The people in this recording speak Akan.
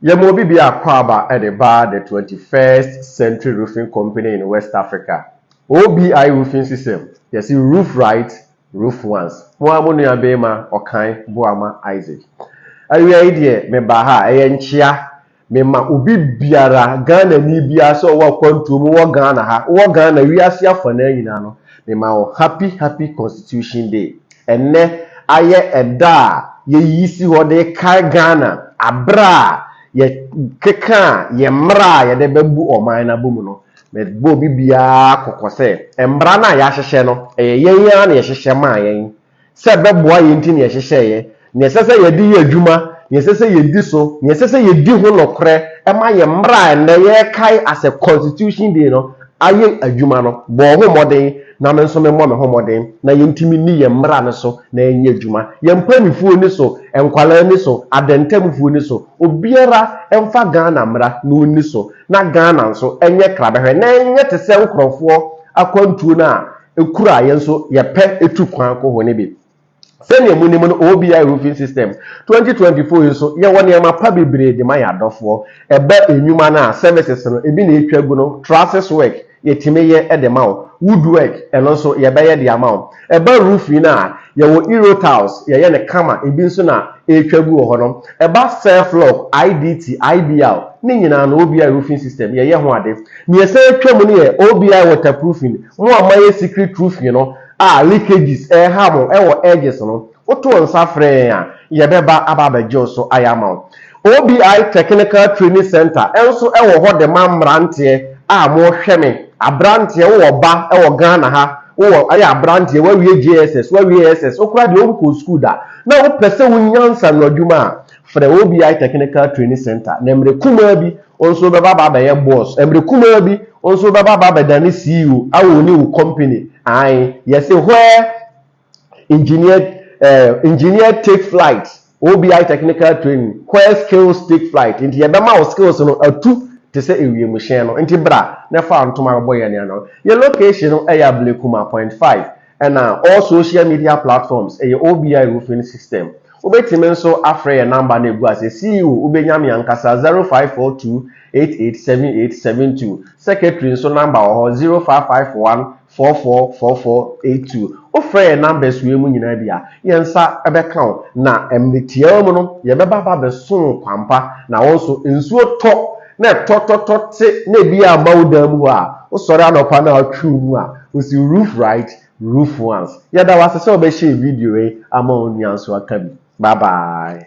Yɛma obi bi akwaaba de ba the 21st Century Roofing Company in West Africa, OBI Roofing System, yɛse roof right, roof once. Mo ara mo nua beema Ɔkan Boamah Isaac. Awia yi deɛ mebaa ha a ɛyɛ nkyea Mema obi biara, Ghanani biara sɛ ɔwɔ akwantuo mu wɔ Ghana ha, wowɔ Ghana, wiase afanaa nyinaa no, mema wo happy happy Constitution Day. Ɛnnɛ ayɛ ɛda a yɛyi si hɔ de kae Ghana aberɛ a yɛkekaa yɛn mmara a yɛde bɛbu ɔman no abɔ mu no. Mebɔ obi biara kɔkɔ sɛ, mmara no a yɛahyehyɛ no, ɛyɛ yɛn ara na yɛhyehyɛ maa yɛn. sɛ ɛbɛboa yɛn nti na yɛhyehyɛeɛ, nea ɛsɛ sɛ yɛde yɛ adwuma, nea ɛsɛ sɛ yɛdi so, nea ɛsɛ sɛ yɛdi ho nokorɛ ma yɛn mmara a ɛnnɛ yɛrekae as a Constitution Day no ayɛ adwuma no. Bɔ wo ho mmɔden na me nso memmɔ me ho mmɔden na yɛntumi nni yɛn mmara no so na yɛnyɛ adwuma. Yɛn mpanimfoɔ nni so, nkwadaa nni so, adantamfoɔ nni so, obiara mfa Ghana mmara na ɔnni so na Ghana nso nyɛ krabɛhwɛ na ɛnyɛ te sɛ nkurɔfoɔ akwantuo no a kuro a yɛn nso yɛpɛ tu kwan kɔ hɔ no bi. Sɛnea munim no, OBI Roofing System 2024 yi nso, yɛwɔ nneɛma pa bebree de ma yɛn adɔfoɔ. Ɛba nnwuma no a, services no, ebi na yɛtwa gu no, trusses work, yɛtumi yɛ de ma wo. Wood work, ɛno nso, yɛbɛyɛ de ama wo. Ɛba roofing no a, yɛwɔ Euro tiles, yɛyɛ no kama, ebi nso na ɛretwa gu wɔ hɔ no. Ɛba self lock, IDT, IBL, ne nyinaa no, OBI Roofing System, yɛyɛ ho ade. Nea ɛsan atwa mu no yɛ OBI waterproofing. Mo a moayɛ secret roofing no a leakages reha mo wɔ edges no, woto nsa frɛ yɛn a, yɛbɛba aba abɛgye wo so ayɛ ama wo. OBI Technical Training Centre nso wɔ hɔ de ma mmeranteɛ a mohwɛ me, aberanteɛ, wowɔ ba wɔ Ghana ha, wowɔ, woyɛ aberanteɛ, woawie JSS, woawie SS, wokora deɛ wonkɔɔ sukuu da, na wopɛ sɛ wonya nsaanoadwuma a, Frɛ OBI Technical Training Centre na mmerɛ kumaa bi wo nso wobɛba aba abɛyɛ boss, mmerɛ kumaa bi wo nso wobɛba aba abɛdane CEO a ɔwuni wo company, ae, yɛse where engineer eh, engineer take flight, OBI Technical Training, where skills take flight, nti yɛbɛma wo skills no atu te sɛ ewiemhyɛn no, nti bra na fa wo ntoma bɛbɔ yɛn ano. Yɛn location no yɛ Ablekuma, Point 5. Ɛna all social media platforms ɛyɛ OBI roofing system. Wobɛtumi nso afrɛ yɛn number no a ɛgu ase, CEO wobɛnya me ankasa, zero five four two eight eight seven eight seven two, Secretary nso number wɔ hɔ, zero five five one four four four four eight two. Wofrɛ yɛn numbers wei mu nyinaa bi a, yɛn nsa bɛka wo, na mmerɛ tiaa mu no yɛbɛba aba abɛso wo kwampa, na wo nso nsuo tɔ. na tɔtɔtɔ te na ebi a ma wo dan mu hɔ a wosɔre anɔpa na atwiw mu a osi roof right roof once yɛda wo ase sɛ wɔbɛ share video yi ama wo nua nso aka bi bye bye.